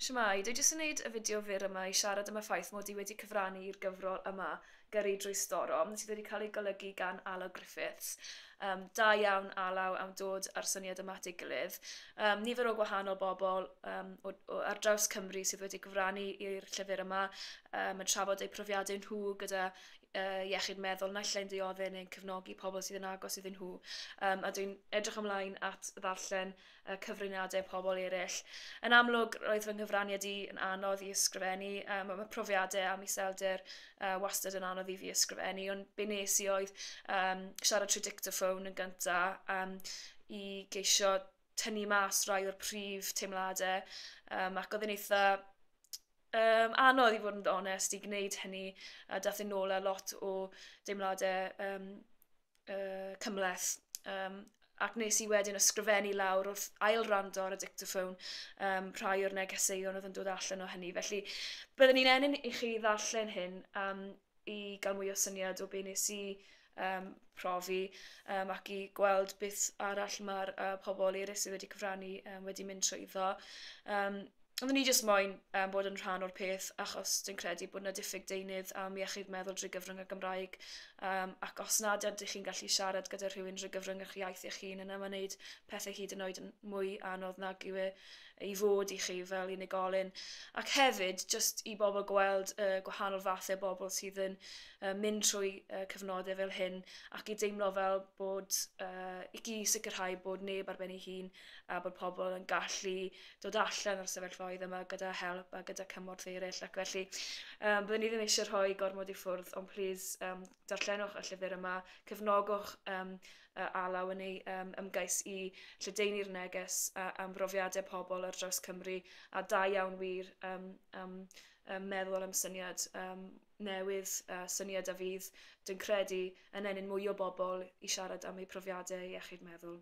Shwmae, dwi jyst yn neud y fideo fyr yma i siarad am y ffaith mod i wedi cyfrannu i'r gyfrol yma, Gyrru Drwy Storm, sydd wedi cael ei golygu gan Alaw Griffiths. Um, da iawn, Alaw, am dod â'r syniad yma at ei gilydd. Um, nifer o gwahanol bobl um, o, o, ar draws Cymru sydd wedi gyfrannu i'r llyfr yma um, yn trafod eu profiadau nhw gyda uh, iechyd meddwl naill ai'n ddiodde neu'n cefnogi pobl sydd yn agos iddyn nhw. Um, a dwi'n edrych ymlaen at ddarllen a cyfraniadau pobl eraill. Yn amlwg, roedd fy nghyfraniad i yn anodd i ysgrifennu. Um, mae profiadau am iselder uh, wastad yn anodd i fi ysgrifennu, ond be nes i oedd um, siarad trwy dictaphone yn gyntaf um, i geisio tynnu mas rai o'r prif teimladau um, ac oedd yn eitha um, anodd i fod yn onest i gwneud hynny a dath yn ôl a lot o deimladau um, uh, cymleth. Um, ac nes i wedyn ysgrifennu lawr wrth ail rando ar y dictaphone um, rhai o'r negeseuon oedd yn dod allan o hynny. Felly, byddwn ni'n enyn i chi ddarllen hyn um, i gael mwy o syniad o be nes i um, profi um, ac i gweld beth arall mae'r uh, pobl eraill sydd wedi cyfrannu um, wedi mynd trwy iddo. Um, Oedden ni jyst moyn yym bod yn rhan o'r peth achos dwi'n credu bod 'na diffyg deunydd am iechyd meddwl drwy gyfrwng y Gymraeg yym ac os nad ydych chi'n gallu siarad gyda rhywun drwy gyfrwng eich iaith eich hun yna ma'n neud pethe hyd yn oed yn mwy anodd nag yw e i fod i chi fel unigolyn ac hefyd jyst i bobl gweld y gwahanol fathau o bobl sydd yn yy mynd trwy yy cyfnode fel hyn ac i deimlo fel bod yy i i sicrhau bod neb ar ben ei hun a bod pobl yn gallu dod allan o'r sefyllfaoedd yma gyda help a gyda cymorth eraill ac felly um, byddwn ni ddim eisiau rhoi gormod i ffwrdd ond plîs um, darllenwch y llyfr yma, cefnogwch um, alaw yn ei um, ymgais i lledeini'r neges a, am brofiadau pobl ar draws Cymru a da iawn wir um, um, um, meddwl am syniad um, newydd, uh, syniad a fydd, dwi'n credu, yn enyn mwy o bobl i siarad am eu profiadau iechyd meddwl.